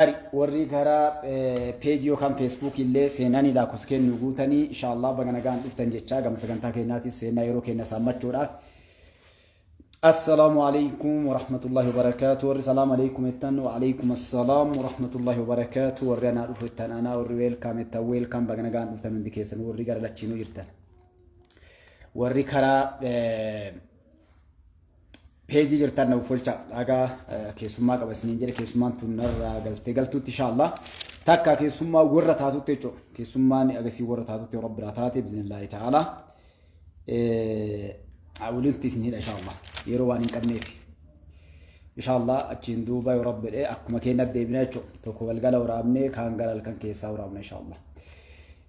Gaarii warri gara peejii yookaan feesbuukii illee seenanii lakkoofsa keenya nu guutanii inshaallah baga nagaan dhuftan jechaa gama sagantaa keenyaatiif seenaa yeroo keenya saammachuudhaaf. Assalaamu alaikum warahmatullahi wabarakaatu warri salaam alaikum jettan wa alaikum assalaam warahmatullahi wabarakaatu warri anaa dhufu jettan anaa warri weelkaam jettan weelkaam baga nagaan dhuftan hundi keessan warri gara lachiinuu jirtan. Warri karaa peejii jirtan nuuf folcha dhagaa keessummaa qaba isiniin jedhe keessummaan tun narraa galtee galtuutti inshaallah takka keessummaa warra taatutti jechuudha keessummaan agasii warra taatutti warra biraa taate bizinillaahi ta'ala walitti isin hidha inshaallah yeroo waan hin qabneef inshaallah achiin duuba yoo rabbi jedhe akkuma keenya deebina jechuudha tokko galgala waraabnee kaan gara halkan keessaa waraabna inshaallah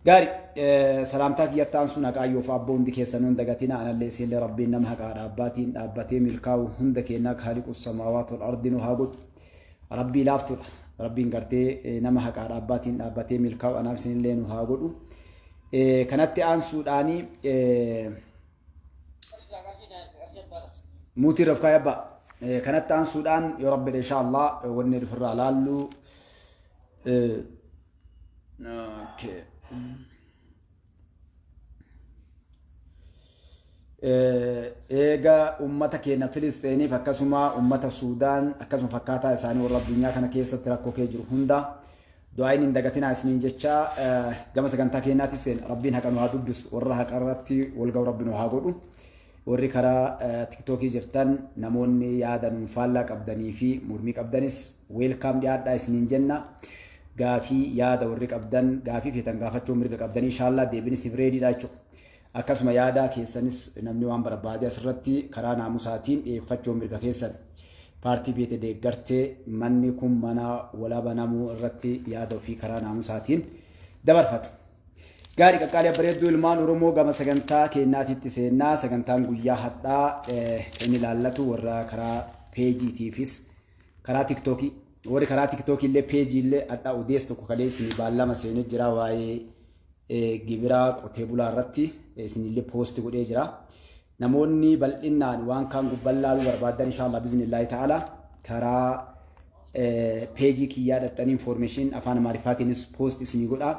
Gaari salaamtaa kiyyatti aansuun haqaayyoof abboo hundi keessanuu hin dagatina anallee isiinlee rabbiin nama haqaa dhaabbaatiin dhaabbatee milkaa'u hunda keennaa kaaliqus samaawaat wal ardi nu haa godhu rabbii laaftuudha rabbiin gartee nama haqaa dhaabbaatiin dhaabbatee milkaa'u anaaf isinillee nu haa godhu kanatti aansuudhaanii muutii rafkaa yabbaa kanatti aansuudhaan yoo rabbi insha Allah wanni dhufirraa laallu Okay. Eega uummata keenya Filisteeniif akkasuma uummata Suudaan akkasuma fakkaataa isaanii warra addunyaa kana keessatti rakkoo kee jiru hunda du'aayin hin dagatinaa isiniin jecha gama sagantaa keenyaatti seen rabbiin haqa nu haa dubbisu warra haqa irratti wal ga'u rabbi nu haa godhu. Warri karaa tiktookii jirtan namoonni yaada nuun faallaa qabdanii fi mormii qabdanis weelkaam dhiyaadhaa isiniin jenna. Gaafii yaada warri qabdan gaafii feetan gaafachuu mirga qabdanii inshaallah deebin isiniif reediidha jechuudha. Akkasuma yaada keessanis namni waan barbaade asirratti karaa naamusaatiin dhiyeeffachuu mirga keessan. Paartii beete deeggarte manni kun mana walabanamuu irratti yaada ofii karaa naamusaatiin dabarfatu. Gaarii qaqqaalii abbareedduu ilmaan Oromoo gama sagantaa keenyaatiitti seennaa sagantaan guyyaa hadhaa kan inni laallatu warra karaa peejiitiifis karaa tiktookii warri karaa tiktookii illee peejii illee hadhaa odees tokko kalee isin baallama seenee jira waa'ee gibiraa qotee bulaa irratti isin illee poosti godhee jira. Namoonni bal'innaan waan kaan gubban laaluu barbaaddan inshallah biznillahi ta'ala karaa peejii kiyyaa dhaxxanii information afaan amaarifaatiinis post isinii godhaa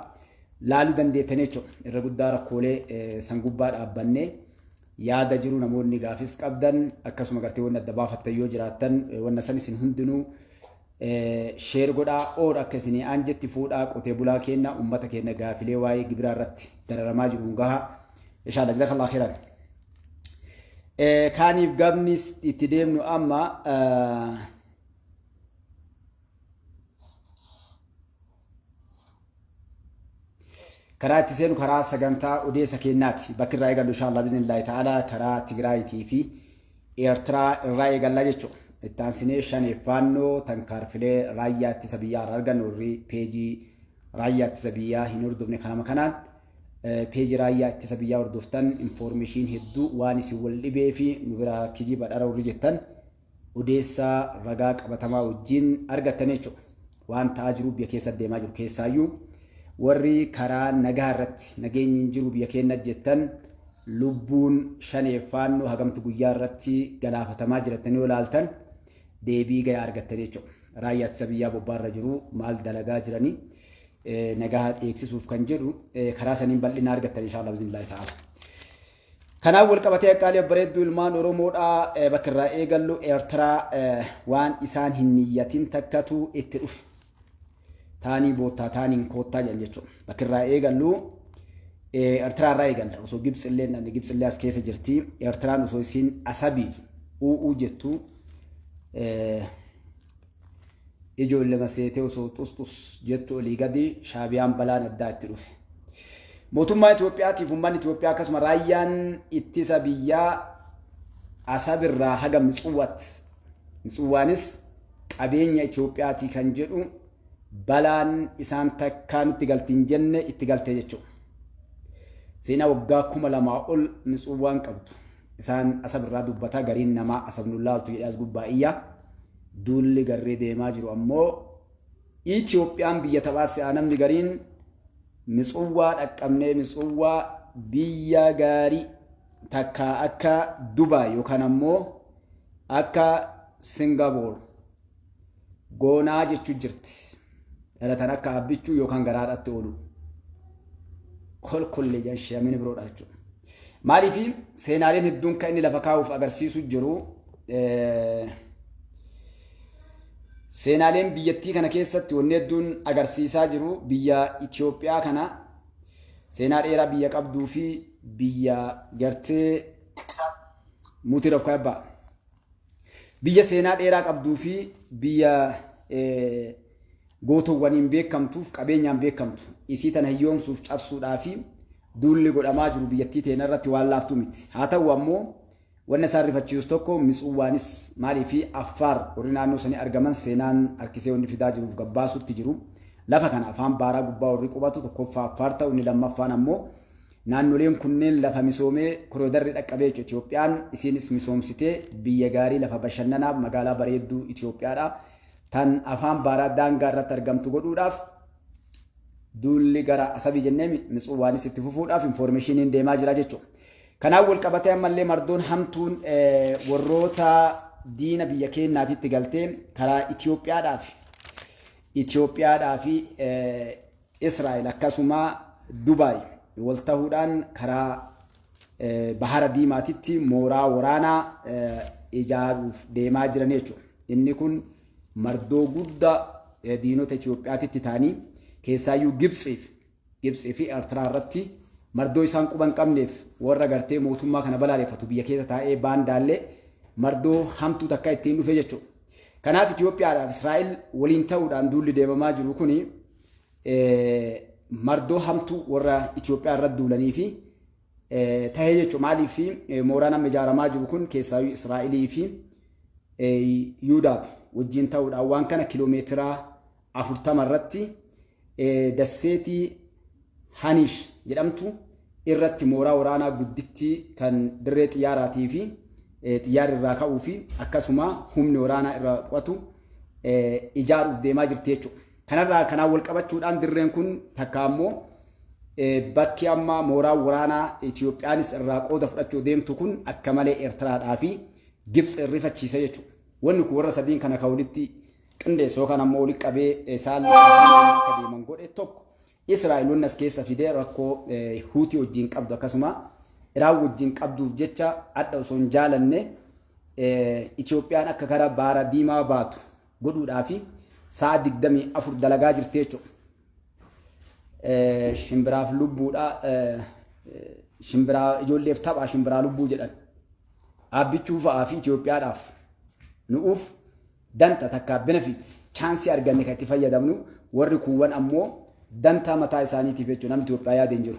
laaluu dandeettan jechuudha. Irra guddaa rakkoolee san gubbaa dhaabbannee yaada jiru namoonni gaafis qabdan akkasuma gartee wanna adda baafattan yoo jiraattan wanna san isin hundinuu Share godhaa or akka isinii aan jetti fuudhaa qotee bulaa keenna ummata keenna gaafilee waa'ee gibiraa irratti dararamaa jiru nu gahaa. Inshallah jazakallah khairan. Kaaniif gabnis itti deemnu amma Karaa itti seenu karaa sagantaa odeessa keenyaati. Bakki irraa eegallu inshaallah biznillaahi ta'ala karaa Tigraayitii fi Eertiraa irraa eegallaa jechuudha. Itti aansinee shanee faannoo tankaarfilee raayyaa ittisa biyyaa irraa argannu warri peejii raayyaa ittisa biyyaa hin hordofne kanama kanaan peejii raayyaa ittisa biyyaa hordoftan infoormeeshiin hedduu waan isin wal dhibee fi nu biraa kijiba dhara warri jettan odeessaa ragaa qabatamaa wajjin argattan jechuudha. Waan ta'aa jiru biyya keessa deemaa jiru keessaayyuu warri karaa nagaa irratti nageenyi hin jiru biyya keenya jettan lubbuun shaneef faannoo hagamtu guyyaa irratti galaafatamaa jiratanii yoo ilaaltan deebii gayaa argattan jechuudha. Raayyaa ittisa biyyaa bobbaarra jiru maal dalagaa jiranii nagaa eegsisuuf kan jedhu karaa saniin bal'ina argattan inshaallah bizinilaahi ta'ala. Kanaan walqabatee Aqqaalii Babbareedduu ilmaan Oromoodhaa bakka irraa eegallu Eertiraa waan isaan hin niyyatin takkatu itti dhufe. Taanii boottaa taaniin koottaa jedhan jechuudha. Bakka irraa eegallu Eertiraa irraa eegalla. Osoo Gibxi illee namni Gibxi illee as keessa jirti. Eertiraan osoo isiin Asabiif u'uu jettu Ijoollema seetee osoo xusxus jettu olii gadi shaabiyaan balaan addaa itti dhufe. Mootummaa Itoophiyaatiif uummanni Itoophiyaa akkasuma raayyaan ittisa biyyaa asabirraa haga Mitsuwwaat. Mitsuwwaanis qabeenya Itoophiyaatii kan jedhu balaan isaan takkaa nutti galti hin jenne itti galte jechuudha. Seenaa waggaa kuma lamaa ol Mitsuwwaan qabdu. Isaan asabirraa dubbataa gariin namaa asabnu laaltu jedhee as gubbaa iyyaa. Duulli garree deemaa jiru ammoo Itoophiyaan biyya taphaa si'aa namni gariin Mitsuwwaa dhaqqabnee Mitsuwwaa biyya gaarii takka akka Dubaay yookaan ammoo akka Singapoor goonaa jechuu jirti. dhalatan akka abbichuu yookaan garaadhaatti oolu kolkollee jedhan sheemini biroodha jechuudha. Maaliif seenaaleen hedduun kan inni lafa kaa'uuf agarsiisu jiru seenaaleen biyyattii kana keessatti wanni hedduun agarsiisaa jiru biyya Itoophiyaa kana seenaa dheeraa biyya qabduu fi biyya gartee mutiira of kaa'e ba'a. Biyya seenaa dheeraa qabduu fi biyya gootowwaniin beekamtuuf qabeenyaan beekamtu isii tana hiyyoomsuuf cabsuudhaa fi duulli godhamaa jiru biyyattii teena irratti waan laaftuu miti. Haa ta'u ammoo wanna isaan rifachiisus tokko Mitsuwwaanis maalii fi Affaar warri naannoo sanii argaman seenaan harkisee wanni fidaa jiruuf gabbaasuutti jiru. Lafa kana afaan baaraa gubbaa warri qubatu tokkoffaa Affaar ta'u inni lammaffaan ammoo Naannoleen kunneen lafa misoomee koroodarri dhaqqabee jechuudha. Itoophiyaan isiinis misoomsitee biyya gaarii lafa bashannanaaf magaalaa bareedduu Itoophiyaadha. Tan afaan baaraa daangaa irratti argamtu godhuudhaaf duulli gara Asabii jennee Mitsuwaanis itti fufuudhaaf infoormeeshiniin deemaa jira jechuudha. Kanaan wal qabatee ammallee mardoon hamtuun warroota diina biyya keenyaatitti galtee karaa Itoophiyaadhaa fi Itoophiyaadhaa fi Israa'el akkasuma Dubaay wal tahuudhaan karaa Bahara Diimaatitti mooraa waraanaa ijaaruuf deemaa jiran jechuudha. Inni kun mardoo guddaa diinota Itoophiyaatitti ta'anii keessaayyuu Gibtsiif Gibtsii fi Eertiraa irratti mardoo isaan quban qabneef warra gartee mootummaa kana balaaleffatu biyya keessa taa'ee baandaallee mardoo hamtuu takka ittiin dhufe jechuudha. Kanaaf Itoophiyaadhaaf Israa'el waliin ta'uudhaan duulli deemamaa jiru kuni mardoo hamtuu warra Itoophiyaa irra duulanii fi tahee jechuudha. Maaliif mooraan amma ijaaramaa jiru kun keessaayyuu Israa'elii fi Yuudaaf wajjin ta'uudhaan waan kana kiloomeetira afurtama irratti dasseetii Haniish jedhamtu irratti mooraa waraanaa gudditti kan dirree xiyyaaraatii fi xiyyaarri irraa ka'uu fi akkasuma humni waraanaa irraa qo'atu ijaaruuf deemaa jirti jechuudha. Kanarraa kanaan wal qabachuudhaan dirreen kun takka ammoo bakki amma mooraa waraanaa Itiyoophiyaanis irraa qooda fudhachuu deemtu kun akka malee Eertiraadhaa fi Gibtsi rifachiisa jechuudha. Wanni kun warra sadiin kana kan walitti qindeesse yookaan ammoo walitti qabee saalli akka deeman godhe tokko Israa'el wanni as keessa fidee rakkoo Huutii wajjin qabdu akkasuma Iraan wajjin qabduuf jecha adda osoo hin jaalanne Itiyoophiyaan akka gara baara diimaa baatu godhuudhaafi sa'a 24 dalagaa jirti jechuudha. Shimbiraaf lubbuudha. Shimbiraa ijoolleef tapha shimbiraa lubbuu jedhan. Aabbichuu fa'aa fi Itoophiyaadhaaf nu'uuf danta takka benefits chaansii arganne kan itti fayyadamnu warri kuuwwan ammoo dantaa mataa isaaniitiif jechuudha namni Itoophiyaa yaada hin jiru.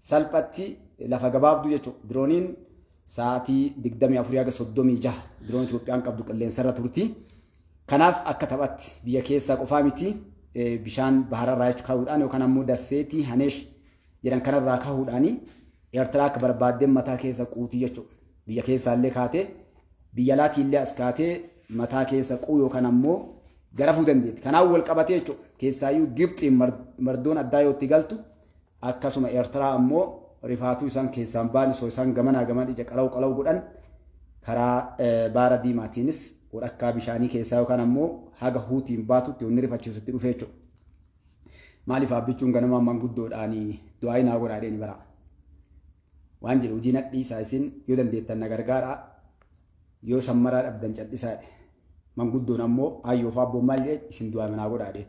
Salphatti lafa gabaabduu jechuudha. Dirooniin sa'aatii 24-36 diroon Itoophiyaan qabdu qilleensarra turti. Kanaaf akka taphatti biyya keessaa qofaa miti bishaan bahararraa jechuun kahuudhaan yookaan ammoo dasseetii Haneesh jedhan kanarraa kahuudhaan Eertiraa akka barbaaddeen mataa keessa quutii jechuudha. Biyya keessaallee kaatee biyya alaatiillee as kaatee mataa keessa quu yookaan ammoo garafuu dandeetti. Kanaan wal qabatee jechuudha. Keessaayyuu Gibxiin mardoon addaa yoo itti galtu Akkasuma Ertiraa ammoo rifaatuu isaan keessaan baan osoo isaan gamanaa gamaan ija qalaw qalaw godhan karaa baara diimaatiinis walakkaa bishaanii keessaa yookaan ammoo haga huutiin baatutti wanni rifachiisutti dhufee jechuudha. Maaliif abbichuun ganamaa manguddoodhaan du'aayi naa godhaa jedheen bara. Waan jedhu hojii nadhiisaa isin yoo dandeettan na gargaaraa yoo sammaraa dhabdan cadhisaa jedhe. Manguddoon ammoo ayyoo fi abboon maal jedhe isin du'aayi naa godhaa jedheen.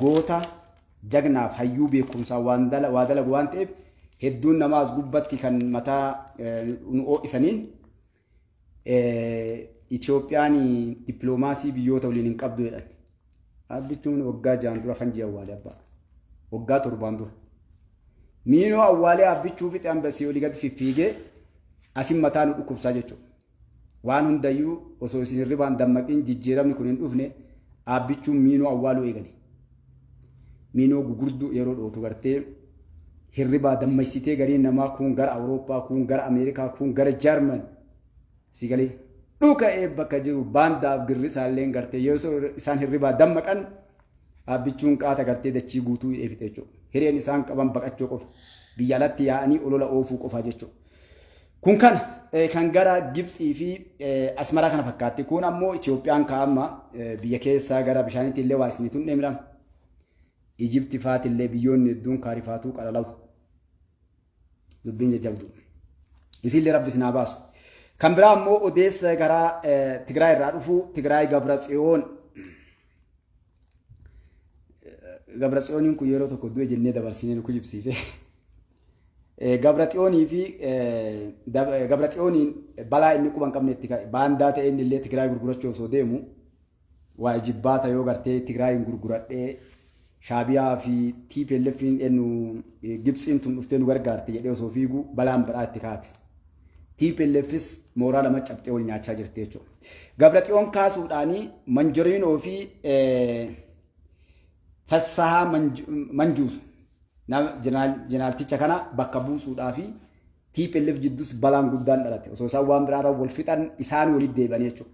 goota jagnaaf hayyuu beekumsaa waan dala- waa dalagu waan ta'eef hedduun namaa as gubbatti kan mataa eh, nu ho'isaniin eh, Itoophiyaan dippiloomaasii biyyoota waliin hin qabdu jedhan. Abbichuun waggaa ja'an dura kan ji'a awwaalee abbaa. Waggaa torbaan dura. Miinoo awwaalee abbichuu fixe ambasii olii gadi fiffiigee asin mataa nu dhukkubsaa jechuudha. Waan hundayyuu osoo isin hirribaan dammaqin jijjiiramni kun hin dhufne Aabbichuun miinoo awwaaluu eegale. Miinoo gugurduu yeroo dhootu gartee hirribaa dammaysitee gariin namaa kuun gara Awurooppaa, kuun gara Ameerikaa, kuun gara Jarman si galee dhuka'ee bakka jiru baandaaf girrisaalleen gartee yoo isaan hirribaa dammaqan Aabbichuun qaata gartee dachii guutuu hidhee fixe jechuudha. Hireen isaan qaban baqachuu qofa. Biyya alatti yaa'anii olola oofuu qofaa jechuudha. Kun kana kan gara Gibtsii fi Asmaraa kana fakkaatti. Kun ammoo Itoophiyaan kaa'amma biyya keessaa gara bishaaniitti illee waa isiniitu hin dheemidhama. Ijibti faati illee biyyoonni hedduun kaarifaatuu qalalawu. Dubbiin jajjabdu. Isiillee rabbi isin haa baasu. Kan biraa ammoo odeessa gara Tigraay irraa dhufu Tigraay Gabra Tsiyoon. Gabra Tsiyooniin kun yeroo tokko du'e jennee dabarsinee nu kijibsiise. Gabratsiyoonii fi Gabratsiyooniin balaa inni quba hin qabne itti ka'e. Baandaa ta'e inni illee Tigraay gurgurachuu osoo deemu waa ijibbaata yoo gartee Tigraayiin gurguradhee Shaabiyaa fi TPLFiin ennu Gibtsiin tun dhuftee nu gargaarte jedhee osoo fiigu balaan biraa itti kaate. TPLFis mooraa lama cabxee wal nyaachaa jirti jechuudha. Gabratsiyoon kaasuudhaanii Manjoriinoo fi Fassahaa Manjuusa jenaalticha kana bakka buusuudhaa fi TPLF jidduus balaan guddaan dhalate. Osoo isaan waan biraarra wal fixan isaan walitti deebi'anii jechuudha.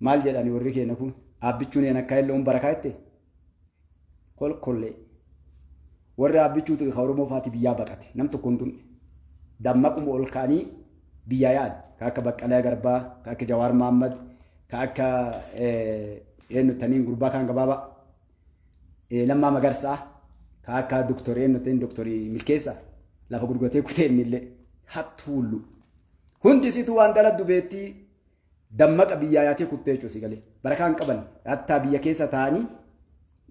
Maal jedhani warri keenya kun? Aabbichuun een akka illee bara kaa'itte kolkollee. Warri aabbichuu tuqe ka Oromoo faati biyyaa baqate. Nam tokko hin tunne. Dammaquma ol ka'anii biyyaa yaa'an. Ka akka Baqqalaa Garbaa, ka akka Jawaar Maammad, ka akka eenyu taniin gurbaa kaan gabaabaa. Lammaa Magarsaa, ka akka doktor eenyu ta'in doktor Milkeessaa. Lafa gurguratee kutee inni illee hattuullu. Hundi isitu waan daladdu beettii Dammaqa biyyaa yaatee kuttee jechuudha si galee. Barakaa hin qaban. Rattaa biyya keessa taa'anii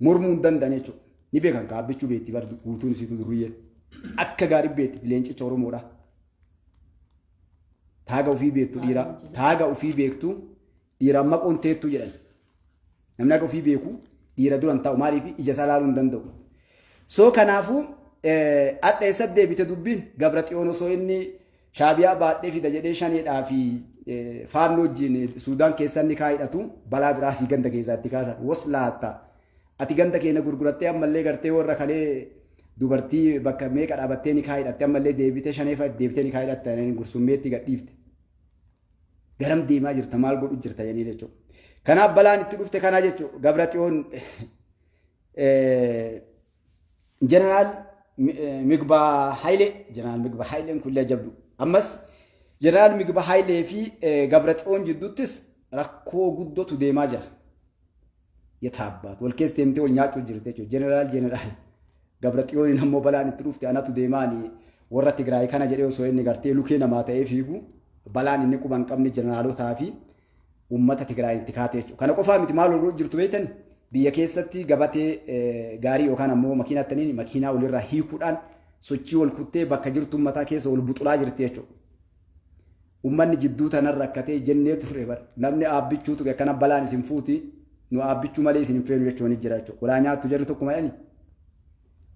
mormuu hin danda'an jechuudha. Ni beekan ka abbichuu beetti bar guutuun isiitu durriyyeen. Akka gaarii beetti leencicha Oromoodha. Taaga ofii beektu dhiiraa. Taaga ofii beektu dhiiraan maqoon teettu jedhan. Namni haga ofii beeku dhiira dura hin taa'u maaliif ija isaa ilaaluu hin danda'u. So kanaafuu hadha eessa deebite dubbiin gabra xiyoon osoo inni shaabiyaa baadhee fida jedhee shaneedhaa fi faannoo wajjin suudaan keessan ni kaa'idhatu balaa biraa sii ganda keessaa itti kaasan was laatta ati ganda keenya gurgurattee ammallee gartee warra kalee dubartii bakka meeqa dhaabattee ni kaa'idhatte ammallee deebitee shaneefa deebitee ni kaa'idhatte gursummee itti gadhiifte. Garam deemaa jirta maal godhu jirta jennee jechuudha. Kanaaf balaan itti dhufte kanaa jechuudha. Gabra xiyoon jeneraal Migbaa Hayilee jeneraal Migbaa Hayileen kullee jabdu. Ammas jeneraal Migbaa Hayilee fi Gabra xiyoon jidduuttis rakkoo guddootu deemaa jira. Yetaabbaatu wal keessa deemtee wal nyaachuu jirte jechuudha. Jeneraal jeneraal Gabra Xiyooniin ammoo balaan itti dhufte anatu deemaani warra Tigraay kana jedhee osoo inni gartee lukee namaa ta'ee fiigu balaan inni quba hin qabne jeneraalotaa fi uummata Tigraay itti kaate jechuudha. Kana qofaa miti maal ooluu jirtu beektan biyya keessatti gabatee gaarii yookaan ammoo makiinaa taniin makiinaa walirraa hiikuudhaan sochii wal kuttee bakka jirtu uummataa keessa wal buxulaa jirti jechuudha. Ummanni jidduu tanan rakkatee jennee turre bar. Namni Aabbichuu tuqe akkana balaan isin fuuti. Nu Aabbichuu malee isin hin feenu jechuun ni jira jechuudha. Walaa nyaattu jarri tokkumaadhani.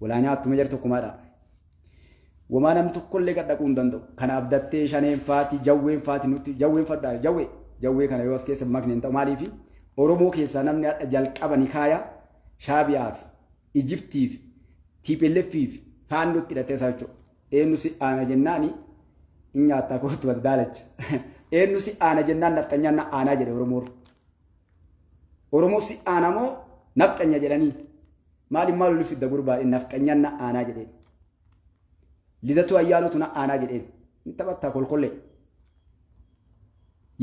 Walaa nyaattuma jarri tokkumaadha. Wamaa namni tokkollee gad dhaquu hin danda'u. Kan abdattee shaneen faati, jawween faati nutti, jawween fadhaa, jawwee. Jawwee kana yoo as keessa makne hin ta'u. Maaliifi Oromoo keessaa namni hadha jalqaba ni kaaya Shaabiyaaf, Ijiptiif, TPLFiif faannootti hidhattee isaa jechuudha. eenyu si aana jennaani hin nyaattaa kootu wal daalacha. Eenyu si aana jennaan nafxanyaan na aanaa jedhe Oromoon. Oromoo si aana moo nafxanya jedhanii maali maal oli fidda gurbaa nafxanyaan na aanaa jedheen. Lidatuu ayyaanootu na aanaa jedheen. Hin taphattaa kolkollee.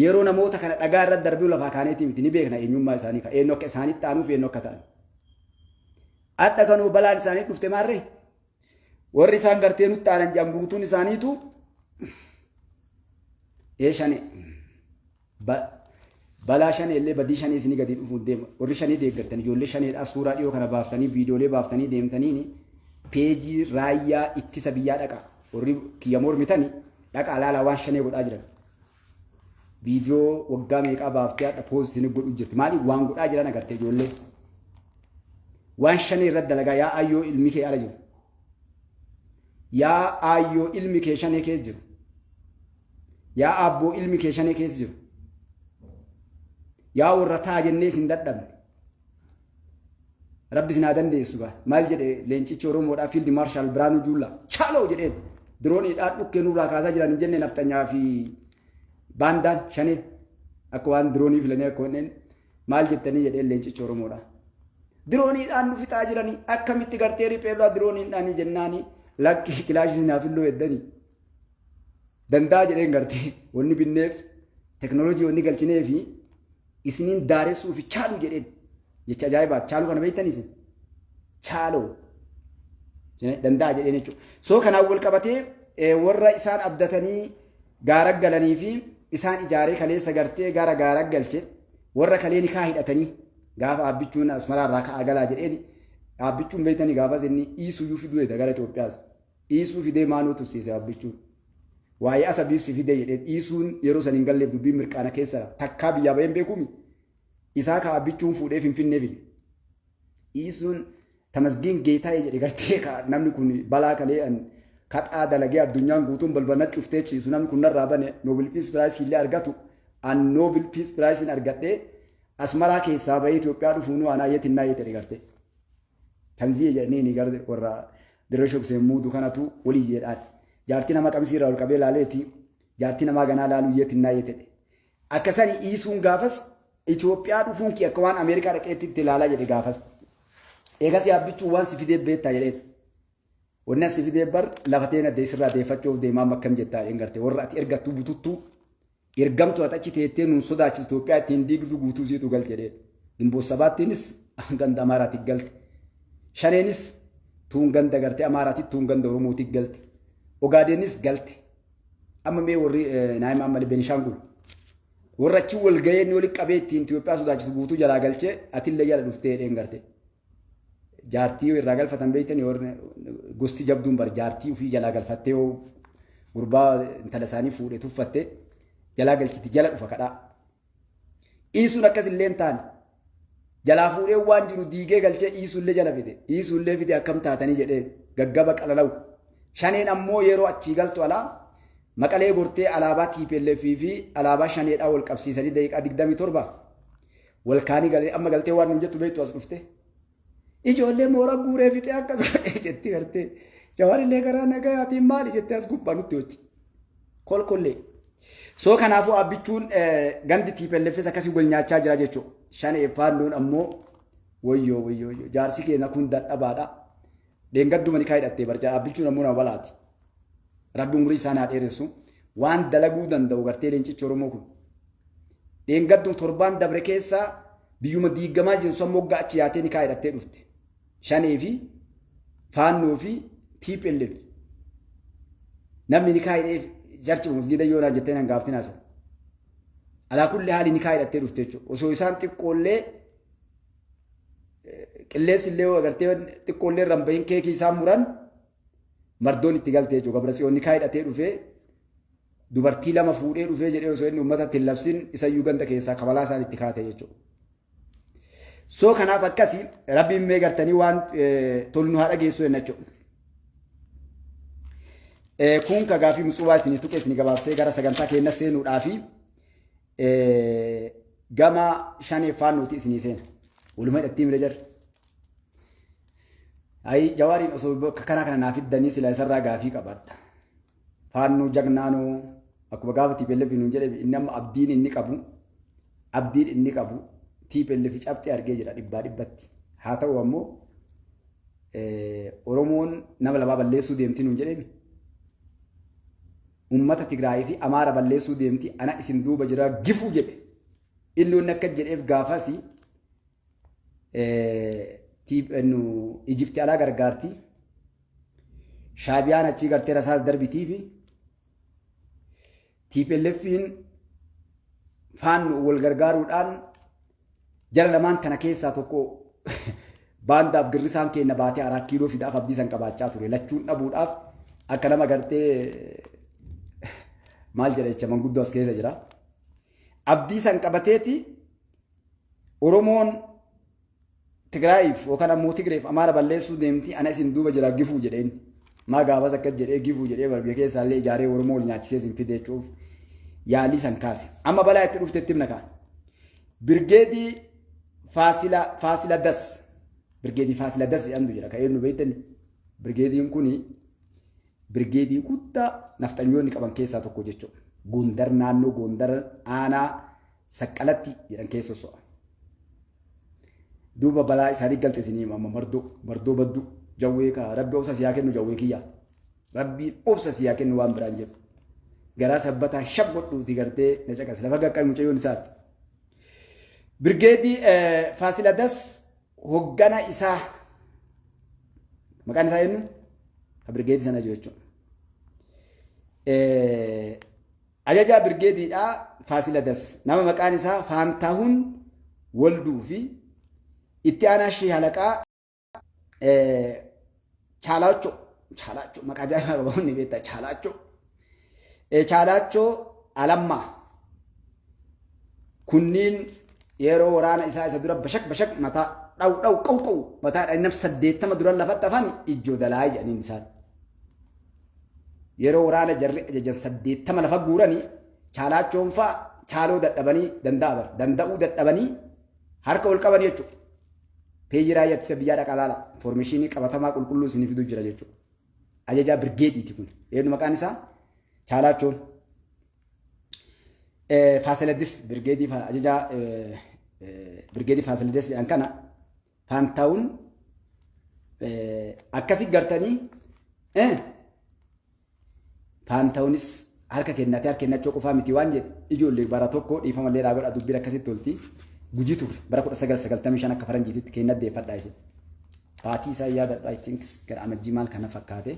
Yeroo namoota kana dhagaa irratti darbuu lafaa kaaneetii miti ni beekna eenyummaa isaanii kan eenyu akka isaanitti aanuuf eenyu akka ta'an. Adda kanuu balaan isaanii dhufte maarree? Warri isaan gartee nutti aanan jedhan guutuun isaaniitu ee shane balaa shanee illee badii shanee isinii gadi dhufuun deema. Warri shanee deeggartan ijoollee shaneedhaa suuraa dhiyoo kana baaftanii viidiyoolee baaftanii deemtaniin peejii raayyaa ittisa biyyaa dhaqa. Warri kiyya mormitani dhaqa alaalaa waan shanee godhaa jiran. Viidiyoo waggaa meeqaa baaftee hadha poost isin godhu jirti. Maaliif waan godhaa jiran agartee ijoollee. Waan shanee irratti dalagaa yaa ayyoo ilmi kee ala jiru. Yaa ayyoo ilmi kee shanee keessa jiru. Yaa abboo ilmi kee shanee keessa jiru. Yaa warra taa jennee isin dadhabne. Rabbi isin haa dandeessu gaa. Maal jedhe leencichi Oromoodhaa Fiild Maarshaal Biraanuu Juullaa chaaloo jedheen dirooniidhaa dhukkee nurraa kaasaa jiran hin jenne nafxanyaa fi baandaan shanee akka waan diroonii filanii akka wanneen maal jettanii jedheen leencichi Oromoodhaa. Dirooniidhaan nu fixaa jiranii akkamitti gartee ripheerraa dirooniidhaanii jennaanii lakkii kilaashii naaf illoo heddanii. Danda'a jedheen gartee wanni binneef teknooloojii wanni galchinee fi isiniin daaressuu fi chaaluu jedheen jecha ajaa'ibaati. Chaaluu kana beektan isin? Chaaloo. Danda'a jedheen jechuudha. Soo kanaan wal qabatee warra isaan abdatanii gaara galanii fi isaan ijaaree kaleessa gartee gara gaara galche warra kalee nikaa hidhatanii gaafa abbichuun asmaraa irraa ka'aa galaa jedheen abbichuun beektanii gaafas inni iisuyyuu fiduu dha gara Itoophiyaas. Iisuu fidee maaloo tursiise Abbichuun. Waa'ee Asabiif si fidee jedheen Iisuun yeroo san hin galleef dubbiin mirqaana keessa takkaa biyyaa baheen beekuumi. Isaa kaa Abbichuun fuudhee Finfinnee fide. Iisuun Tamasgeen Geetaayee jedhe gartee kaa namni kun balaa kalee an kaxaa dalagee addunyaan guutuun balbala cuftee ciisu namni kun narraa bane Nobel Peace Prize illee argatu an Nobel Peace Prize hin argadhee Asmaraa keessaa bahee Itoophiyaa dhufuunuu anaa yeetinnaa yeetedhe gartee. Tanziya jedhanii ni gara warra dirree shubseen muudu kanatu walii jedhaati. Jaartii nama qamisii irraa ol qabee laaleeti jaartii namaa ganaa laaluu yeeti naa yeetedhe. Akka sani iisuun gaafas Itoophiyaa dhufuun kee akka waan Ameerikaa dhaqeetti itti ilaalaa jedhe gaafas. Eegas yaabbichuu waan si fidee beektaa jedheen. Wanni as si fidee bar lafa teena dee sirraa deeffachuuf deemaa makkam jettaa dheen garte warra ati ergattuu bututtuu ergamtu ati achi teettee nuun sodaachisu Itoophiyaa ittiin diigdu guutuu siitu gal jedhee gimboos sabaattiinis ganda amaaraati galte shaneenis tuun ganda garte amaaraati tuun ganda oromooti galte ogaadeenis galte amma mee warri naayima ammali benishaangul warra achi wal ga'ee inni walitti qabee ittiin Itoophiyaa sodaachisu guutuu jalaa galchee atillee jala dhuftee dheen garte jaartii yoo irraa galfatan beektanii warri gosti jabduun bar jaartii ofii jalaa galfattee yoo gurbaa intala isaanii fuudhe tuffatte jalaa galchiti jala dhufa kadhaa. Iisuun akkas illee hin taane jalaa fuudhee waan jiru diigee galchee iisuullee jala fide iisuullee fide akkam taatanii jedhee gaggaba qalalawu. Shaneen ammoo yeroo achii galtu alaa maqalee gortee alaabaa TPLF fi alaabaa shaneedhaa wal qabsiisanii daqiiqaa 27 Wal kaanii galee amma galtee waan nuun jettu beektu as dhuftee. Ijoollee mooraa guuree fixee akkas godhee jetti gartee. Jawaarillee karaa nagayaatiin maali jettee as gubbaa nutti hojji. Kolkollee. Soo kanaafuu abbichuun gandi tiipelleffes akkasii wal nyaachaa jira jechuudha. Shan effaannoon ammoo woyyoo woyyoo woyyoo jaarsi keenya kun dadhabaadha. Deengadduma ni kaayidhattee barjaa abbichuun ammoo nama balaati. Rabbi umurii isaan haa dheeressu. Waan dalaguu danda'u gartee leencichi Oromoo kun. Dheengaddu torbaan dabre keessa biyyuma diiggamaa jiru san moggaa achi yaatee nikaa hidhattee dhufte. Shanee fi faannoo fi TPLF. Namni nikaa hidheef jarchi masgiida yoo naa jettee nan gaaftin haasa. Alaa kulli haali nikaa hidhattee dhufte jechuudha. Osoo isaan xiqqoollee qilleensi illee agartee xiqqoollee irraan bahin keekii isaan muran Mardoon itti galte jechuudha. Gabra Tsiyoon nikaa hidhatee dhufee dubartii lama fuudhee dhufee jedhee osoo inni uummatatti hin labsin isayyuu ganda keessaa kabalaa isaan itti kaate jechuudha. Soo kanaaf akkasii rabbiin mee gartanii waan tolu nu haa dhageessu jenna jechuudha. Kun kagaa fi musuubaa isinii tuqee isinii gabaabsee gara sagantaa keenya seenuudhaa fi gama shaneeffaan nuti isinii seena. Walumaa hidhattii mira jarri. Ayi jawaariin osoo bakka karaa kana naa fiddanii silaa isarraa gaafii qabadha. Faannoo jagnaanoo akkuma gaafa TPLF nuun jedhe inni amma abdiin inni qabu abdiin inni qabu TPLF cabxee argee jira dhibbaa dhibbatti. Haa ta'u ammoo Oromoon nama lamaa balleessuu deemti nuun jedhemi. Uummata Tigraayii fi Amaara balleessuu deemti ana isin duuba jira gifuu jedhe. Inni inni akka jedheef gaafasi nu Ijipti alaa gargaarti. Shaabiyaan achii gartee rasaas darbitii fi TPLFiin faannu wal gargaaruudhaan jara lamaan kana keessaa tokko baandaaf girrisaan keenya baatee araa kiiloo fidaaf abdii san qabaachaa ture lachuun dhabuudhaaf akka nama gartee maal jedha jecha manguddoo as keessa jira. Abdii san qabateeti Oromoon Tigraayiif yookaan ammoo Tigreef Amaara balleessuu deemti ana isin duuba jira gifuu jedheen. Maa gaafas akkas jedhee gifuu jedhee barbiyya keessaa illee ijaaree Oromoo wal nyaachisee isin fide jechuuf yaalii san kaase. Amma balaa itti dhufte itti himna kaa. Birgeedii Faasila Faasila Das. Birgeedii Faasila Das jedhamtu jira kan eenyu beektani. Birgeediin kuni birgeedii guddaa nafxanyoonni qaban keessaa tokko jechuudha. Gondar naannoo Gondar aanaa saqqalatti jedhan keessa so'a. Duuba balaa isaanii galte isinii amma mardoo mardoo badduu jawwee kaa rabbi obsa siyaa kennu jawwee kiyyaa. Rabbiin obsa siyaa kennu waan biraan jedhu. Garaa sabbataa shab godhuuti gartee na caqas lafa gaqqabi mucayyoon isaati. Birgeedii Faasiladas hoggana isaa maqaan isaa eenyu? Ka birgeedii sana jiru jechuudha. Ajajaa Birgeediidhaa Faasiladas nama maqaan isaa Faantaahun Wolduu fi Itti aanaa Shii Halaqaa Chaalaachoo Chaalaachoo maqaa ajaa'ibaa qaba hundi beektaa Chaalaachoo Chaalaachoo Alammaa kunniin yeroo waraana isaa isa dura bashak bashak mataa dhaw dhaw qaw qaw mataa dhaynaf saddeettama duran lafatti hafan ijjoo dalaa jedhaniin isaan. Yeroo waraana jarri ajajan 80 lafa guurani chaalaachoon faa chaaloo dadhabanii danda'a bar danda'uu dadhabanii harka ol qabanii jechuudha. Peejii raayyaa ittisa biyyaa dhaqaa laala informeeshinii qabatamaa qulqulluu isinii fiduu jira jechuudha. Ajajaa birgeediiti kun eenyu maqaan isaa chaalaachoon. Faasiladis birgeedii ajajaa birgeedii faasiladis jedhan kana Faantaawun akkasi gartanii faantaawunis harka kennatee harka kennachuu qofaa miti waan jedhe ijoollee bara tokko dhiifama illee godha dubbiin akkasitti tolti guji turre bara 1995 akka faranjiititti kenna deeffadhaa isin. Baatii isaa yaadadha I think gara amajjii maal kana fakkaate.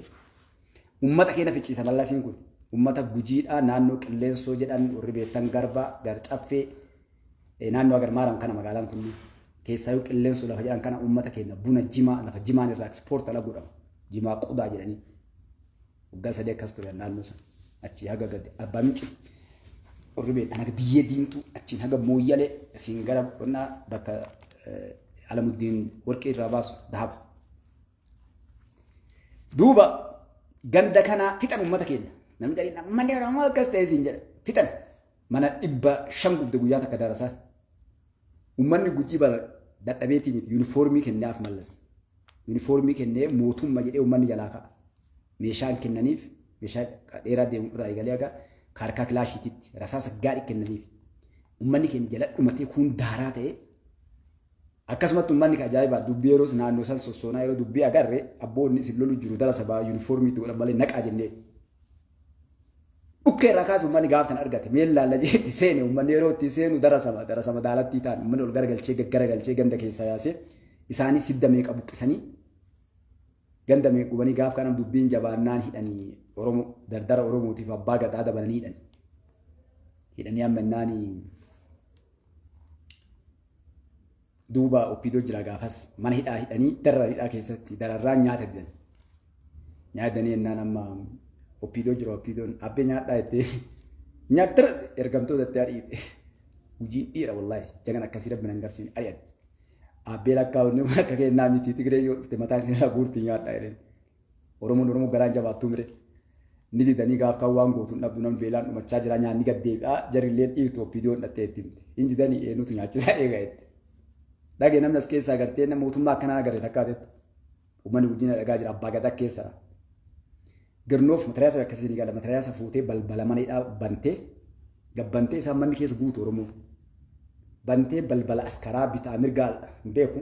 Uummata keenya ficciisa mallasiin kun uummata gujiidhaa naannoo qilleensoo jedhan warri beektan garbaa gar caffee Naannoo Agar Maaram kana magaalaan kun keessaayyuu qilleensu lafa jedhan kana uummata keenya buna jimaa lafa jimaan irraa ekspoort ala godhamu jimaa qodaa jedhanii waggaa sadii akkas ture naannoo sana achii haga gadi arbaa minci warri beektan haga biyyee diimtuu achiin haga mooyyalee asiin gara qonnaa bakka alamuddiin warqii irraa baasu dahaba. Duuba ganda kanaa fixan uummata keenya namni jedhanii namni oromoo akkas ta'e siin jedha fixan. Mana dhibba shan gubde guyyaa takka darasaan. Ummanni gujii bara dadhabeetii miti yuunifoormii kennaaf mallas. Yuunifoormii kennee mootumma jedhee ummanni jalaa ka'a. Meeshaan kennaniif meeshaa dheeraa deemu irraa eegalee haga kaarkaa kilaashiititti rasaasa gaarii kennaniif. Ummanni keenya jala dhumatee kuun daaraa ta'ee akkasumatti ummanni ka ajaa'ibaa dubbii yeroos naannoo san sossoonaa yeroo dubbii agarre abboonni isin lolu jiru darasa ba'aa yuunifoormii itti godhan malee naqaa jennee. Dhukkee irraa kaasee uummanni gaaf sana argate mee laalla jeetti seene uummanni yeroo itti seenu darasama darasama daalattii ta'an uummanni ol garagalchee gaggaragalchee ganda keessaa yaasee isaanis hidda meeqa buqqisanii ganda meeqa gubanii gaaf kana dubbiin jabaannaan hidhanii Oromoo dardara Oromootiif abbaa gadaa dabalanii hidhanii hidhanii ammannaanii duuba oppiidoo jira gaafas mana hidhaa hidhanii darara hidhaa keessatti dararraa nyaata didan. Nyaatanii ennaan amma oppiidoo jira oppiidoon abbee nyaadhaa jettee nyaattara ergamtoota itti ariite. Gujiin dhiira wallaahi jagan akkasii rabbi nan garsiin ari'atti. Abbee lakkaa'uun akka kennaa miti Tigree yoo dhufte mataa isin irraa guurti nyaadhaa jedheen. Oromoon Oromoo garaan jabaattuu mire. Ni didanii gaaf kan waan gootu hin dhabdu nam beelaan dhumachaa jira nyaanni gad deebi'aa jarillee dhiirtu oppiidoo hin dhattee itti himte. Hin didanii eenyutu nyaachisaa eega jette. Dhage namni as keessaa gartee nama mootummaa akkanaa agarre takkaa jettu. Uummanni guddina dhagaa jira abbaa gadaa keessa. Girnoof matariyaasa akkasii ni gala matariyaasa fuutee balbala mana hidhaa bantee gabbantee isaan manni keessa guutu Oromoo. bantee balbala askaraa bitaa mirgaa hin beeku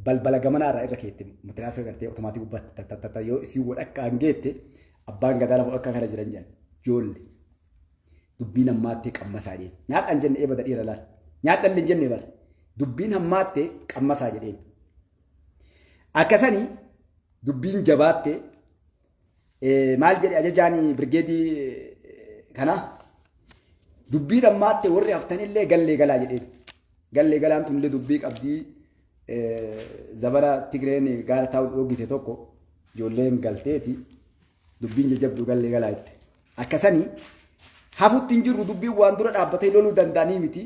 balbala gamanaa irraa irra keette matiraasa gartee otomaatii gubbaatti tattattata yoo isii wadhakka hin geette abbaan gadaa lafa akka kana jiran jedhan joolle dubbiin hammaattee qammasaa jedheen nyaadhaan jenne eebada dhiira laal nyaadhaan illee jenne bara dubbiin hammaattee qammasaa jedheen akkasanii dubbiin jabaattee Maal jedhe ajajaan birgeedii kanaa? Dubbii dhammaatte warri haftanillee gallee galaa jedheen. Gallee galaan tunillee dubbii qabdii zabana Tigreen gaara taa'u dhoogite tokko ijoolleen galteeti dubbiin jajjabdu gallee galaa jette. Akkasanii hafutti hin jirru dubbiin waan dura dhaabbatee loluu danda'anii miti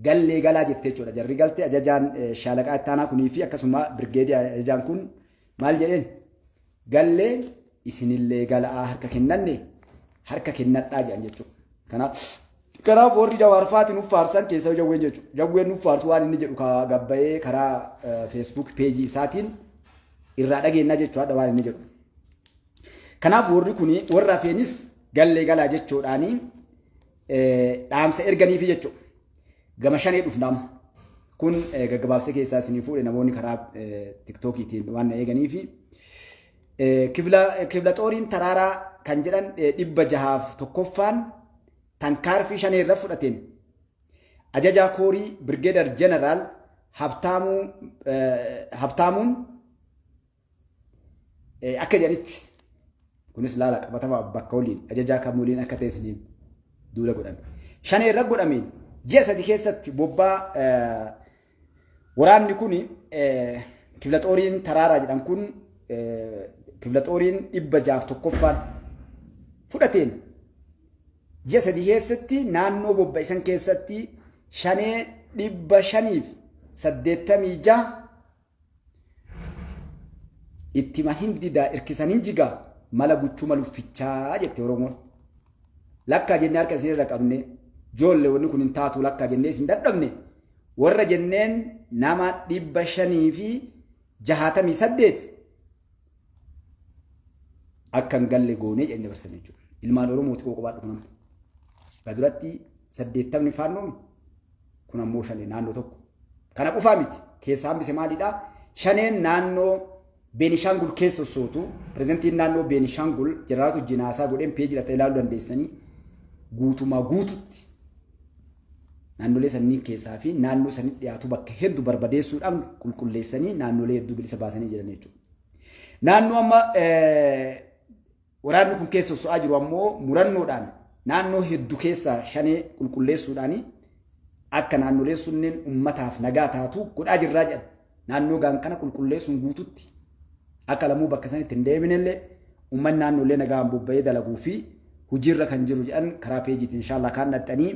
gallee galaa jettee jechuudha. Jarri galtee ajajaan shaalaqaa ittaanaa kunii fi akkasuma birgeedii ajajaan kun Maal jedheen? Galleen isinillee gala'aa harka kennanne harka kennadhaa jedhan jechuudha. Kanaaf kanaaf warri jawaarfaati nuuf faarsan keessa jawween jechuudha. Jawween nuuf faarsu waan inni jedhu kaa gabbayee karaa feesbuuk peejii isaatiin irraa dhageennaa jechuudha waan inni jedhu. Kanaaf warri kun warra hafeenis gallee galaa jechuudhaanii dhaamsa erganiifi jechuudha. Gama shanee dhufna amma. Kun gaggabaabsee keessaa isinii fuudhe namoonni karaa tiktookiitiin waan na eeganiifi. Kibla xooriin taraaraa kan jedhan dhibba jahaaf tokkoffaan tankaarfii shanee irra fudhateen ajajaa koorii birgeedar jeneraal Habtaamuun Akka jedhanitti kunis laala qabatama bakka waliin ajajaa kam waliin akka ta'e saniin duula godhame. Shanee irra godhameen ji'a sadi keessatti bobbaa waraanni kun kiflaxooriin taraaraa jedhan kun kiflaxooriin dhibba jaaf tokkoffaan fudhateen ji'a sadi keessatti naannoo bobba'isan keessatti shanee dhibba shaniif saddeettamii jaha Ittima hin didaa irkisan hin jigaa mala guchuma luffichaa jette Oromoon. Lakkaa jennee harka isin irra qabnee joolle wanni kun hin taatu lakkaa jennee isin dadhabne warra jenneen nama dhibba shanii fi jahaatamii saddeet akka hin galle goonee jedhanii dabarsan jechuudha. Ilmaan Oromooti koo qobaadhu nama. Kana duratti saddeettamni faannoon kun ammoo shanee naannoo tokko. Kana qofaa miti. Keessaa hambise maalidhaa? Shaneen naannoo Beenishaangul keessa sossootu pirezidantiin naannoo Beenishaangul jeneraal Tujjinaasaa godheen peejii irratti ilaaluu dandeessanii guutumaa guututti Naannolee sanniin keessaa fi naannoo sanitti dhiyaatu bakka heddu barbadeessuudhaan qulqulleessanii naannolee hedduu bilisa baasanii jiran jechuudha. Naannoo amma waraanni kun keessa soso'aa jiru ammoo murannoodhaan naannoo heddu keessaa shanee qulqulleessuudhaan akka naannoleen sunneen ummataaf nagaa taatu godhaa jirraa jedhan Naannoo gaan kana qulqulleessuun guututti akka lamuu bakka sanitti hin deebinellee uummanni naannoollee nagaan bobba'ee dalaguu fi hojiirra kan jiru jedhan karaa peejiitiin inshaallah kaan dhaxxanii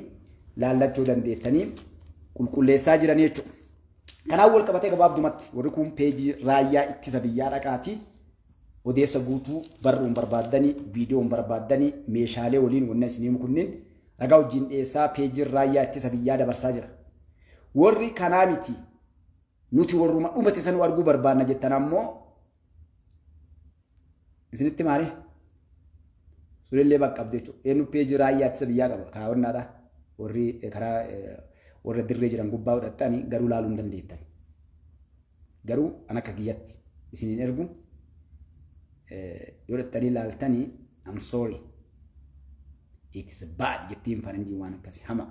laallachuu dandeettanii qulqulleessaa jiran jechuudha. Kanaan wal qabatee gabaabdumatti warri kun peejii raayyaa ittisa biyyaa dhaqaati odeessa guutuu barruun barbaaddanii viidiyoon barbaaddanii meeshaalee waliin wanna isiniimu kunniin ragaa wajjin dhiyeessaa peejiin raayyaa ittisa biyyaa dabarsaa jira. Warri kanaa miti nuti warruma dhumate sanuu arguu barbaanna jettan ammoo isinitti maare sulillee bakka qabdu jechuudha. Eenyu peejii raayyaa ittisa biyyaa qaba kaawwannaadha warri karaa warra dirree jiran gubbaa godhattanii garuu laaluu hin dandeettan. Garuu an akka kiyyatti isin hin ergu yoo dhattanii laaltanii I'm sorry. It's bad jettiin faranjiin waan akkasi hama.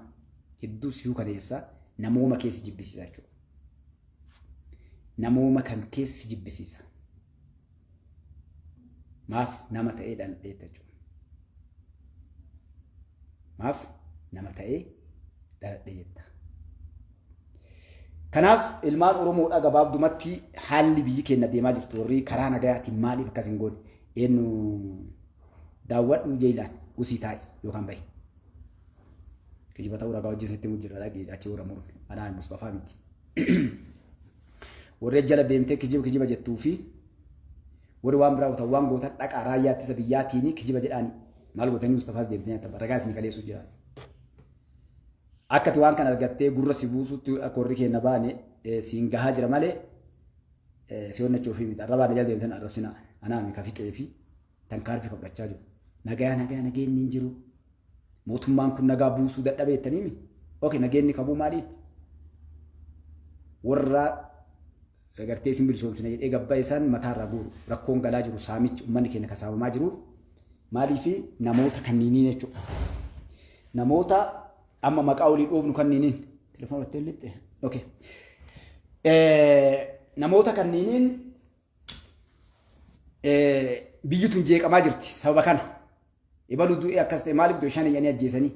Hedduu si hukaneessa namooma keessi jibbisiisa jechuudha. Namooma kan keessi jibbisiisa. Maaf nama ta'ee dhal'ee jechuudha. Maaf nama ta'ee dhal'ee jetta. Kanaaf ilmaan Oromoodhaa gabaabdumatti haalli biyyi keenya deemaa jirtu warri karaa nagayaatiin maaliif akkas hin goone eenyu daawwadhu ija ilaali usii taa'i yookaan bahi. Kijiba ta'uu ragaa wajjin sitti mujjira dhaqee achi warra muru anaa Mustafaa miti. Warri jala deemtee kijiba kijiba jettuu fi warri waan biraa gootan waan gootan dhaqaa raayyaa ittisa biyyaatiin kijiba jedhaani maal gootanii Mustafaas deemtee nyaatan ragaa isin kaleessuu jira. Akkati waan kan argattee gurra si buusutti akka warri keenya baane siin gahaa jira malee si onnachuuf miti arrabaan jala deemtan arrabsina anaa mi kafixee fi Tankaarfii kan fudhachaa jiru. Nagaa nagaa nageenyi hin jiru. Mootummaan kun nagaa buusuu dadhabee jettaniimi. Oke nageenyi kabuu maaliif? Warra gartee isin bilisoomsina jedhee gabbaa isaan mataarraa guuru. Rakkoon galaa jiru saamichi uummanni keenya kan saamamaa jiru maaliifi namoota kanniiniin jechuudha. Namoota amma maqaa olii dhoofnu kanniiniin. Telefoon irratti hin lixxe. Oke. Namoota kanniiniin biyyi tun jeeqamaa jirti sababa kana. Ibalu du'e akkas ta'e maaliif du'e shan iyyanii ajjeesanii.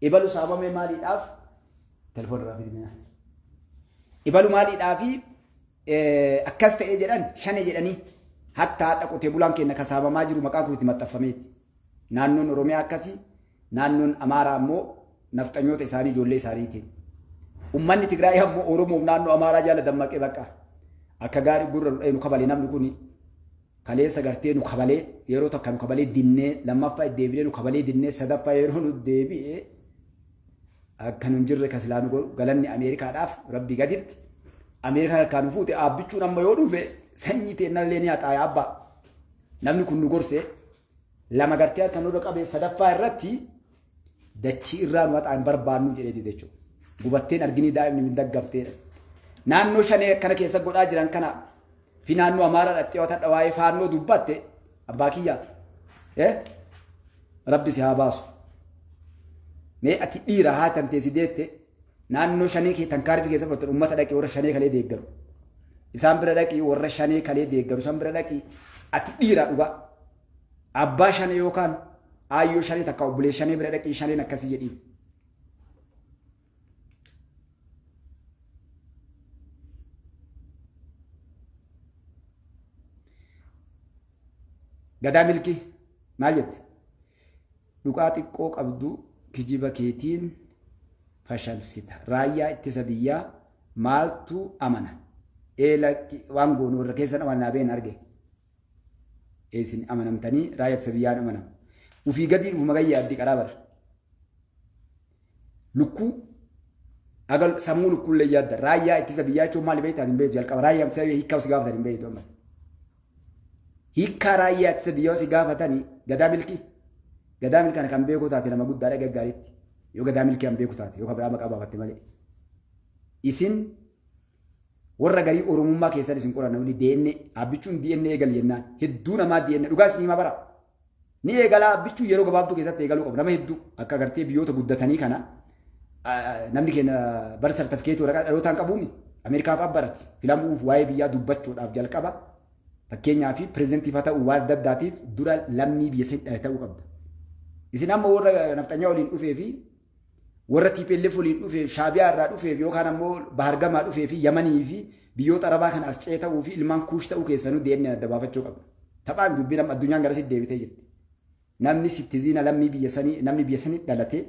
Ibalu saamamee maaliidhaaf telefoon irraa fidinaa. Ibalu maaliidhaaf akkas ta'e jedhan shan jedhanii hatta haadha qotee bulaan keenya kasaabamaa jiru maqaa kun itti maxxanfameeti. Naannoon Oromiyaa akkasii Naannoon Amaaraa ammoo nafxanyoota isaanii ijoollee isaaniitiin. Ummanni Tigraay ammoo Oromoof naannoo Amaaraa jala dammaqee baqa. Akka gaarii gurra nu dha'e nu kabale namni kuni. Kaleessa gartee nu kabalee yeroo takka nu kabalee dinnee lammaffaa deebinee nu kabalee dinnee sadaffaa yeroo nu deebi'e akka nu hin jirre kan silaa nu godhu galanni Ameerikaadhaaf rabbii gaditti. Ameerikaan harkaa nu fuute aabbichuun amma yoo dhufe sanyii teennallee ni haxaaya abbaa. Namni kun nu gorsee lama gartee harka nurra qabee sadaffaa irratti dachii irraa nu haxaa hin barbaannu jedhee dide jechuudha. Gubatteen arginii daa'imni min daggamteedha. Naannoo shanee akkana keessa godhaa jiran kana fi naannoo amaaraa dhaxxee watadha waa'ee faannoo dubbatte abbaa kiyyaa. Eh? Rabbi si haa baasu. Mee ati dhiira haa tanteesi deette Naannoo shanee kee tankaarfi keessa fudhatan uummata dhaqii warra shanee kalee deeggaru. Isaan bira dhaqii warra shanee kalee deeggaru isaan bira dhaqii ati dhiiraa dhugaa. Abbaa shanee yookaan aayyoo shanee takka obbolee shanee bira dhaqii shaneen akkasii jedhii. Gadaa milkii maal jette? Dhugaa xiqqoo qabdu kijiba keetiin fashalsita. Raayyaa ittisa biyyaa maaltu amana? Ee lakki waan goonu warra keessan amanaa been arge. Ee isin amanamtanii raayyaa ittisa biyyaan amanama. Ufii gadii dhufu magan yaaddi qaraa bara. Lukkuu agal sammuu lukkuullee yaadda raayyaa ittisa biyyaa jechuun maali beektaa hin beektu jalqaba raayyaa ittisa biyyaa hiikkaa si gaafatan hin beektu amma. Hiikkaa raayyaa ittisa biyyaa si gaafatanii gadaa milkii gadaa milkii kana kan beekuu taate nama guddaadha gaggaariitti yoo gadaa milkii kan beeku taate yoo kan biraa maqaa baafatte malee. Isin warra garii oromummaa keessan isin qoranna wali DNA abbichuun DNA eegal jennaan hedduu namaa DNA dhugaa isin himaa bara. Ni eegalaa abbichuu yeroo gabaabduu keessatti eegaluu qabu. Nama hedduu akka agartee biyyoota guddatanii kana namni keenya bara sartifikeetii waraqaa dhalootaan qabuumi. Ameerikaa fa'aa barati filamuuf waa'ee biyyaa dubbachuudhaaf jalqaba fakkeenyaa fi pireezidantii fa'aa ta'uu waan adda addaatiif dura lammii biyya sanii dhala ta'uu qabda. Isin amma warra nafxanyaa waliin dhufee fi Warra tplf waliin dhufeef, Shaabiyaa irraa dhufeef yookaan ammoo Bahar Gamaa dhufee fi Yamanii fi biyyoota Arabaa kana as ce'ee ta'uu fi ilmaan Kuush ta'uu keessanuu DNAn adda baafachuu qabna. Taphaa miti dubbiin amma addunyaan garasitti deebitee jirti. Namni sittiziina lammii biyya sanii namni biyya sanii dhalate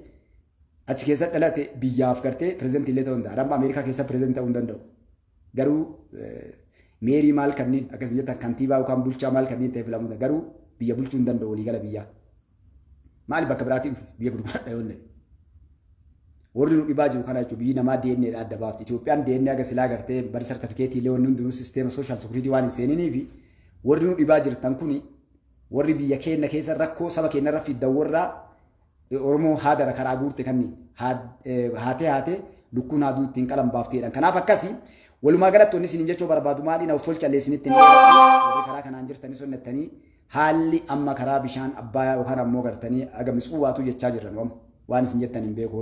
achi keessa dhalate biyyaaf gartee pirezidantii illee ta'uu danda'a. Amma Ameerikaa keessa pirezidantii ta'uu hin danda'u. Garuu meerii maal kanneen akkas jettan kantiibaa yookaan bulchaa maal kanneen ta'e filamuu danda'a. Garuu biyya bulchuu hin danda'u waliigala biyyaa. Maali bakka biraatiin dhufe biyya gurguradha yoo ta'e. Warri nu dhibaa jiru kana jechuun biyyi namaa DNA dha adda baafti. Itoophiyaan DNA aga silaa gartee bari sartifikeetii illee wanni hundinuu sisteema sooshaal sekuriitii waan hin seeninii fi warri nu dhibaa jirtan kuni warri biyya keenya keessa rakkoo saba keenya irra fiddan warra Oromoo haadara karaa guurte kanni haatee haatee lukkuun haaduu ittiin qalan baafti jedhan. Kanaaf akkasi walumaa galatti wanni isin jechuu barbaadu maali na folchallee isinitti hin karaa kanaan jirtanii sonnattanii haalli amma karaa bishaan abbayaa yookaan ammoo gartanii aga mitsuwaatu jechaa jirran waan isin jettan hin beeku.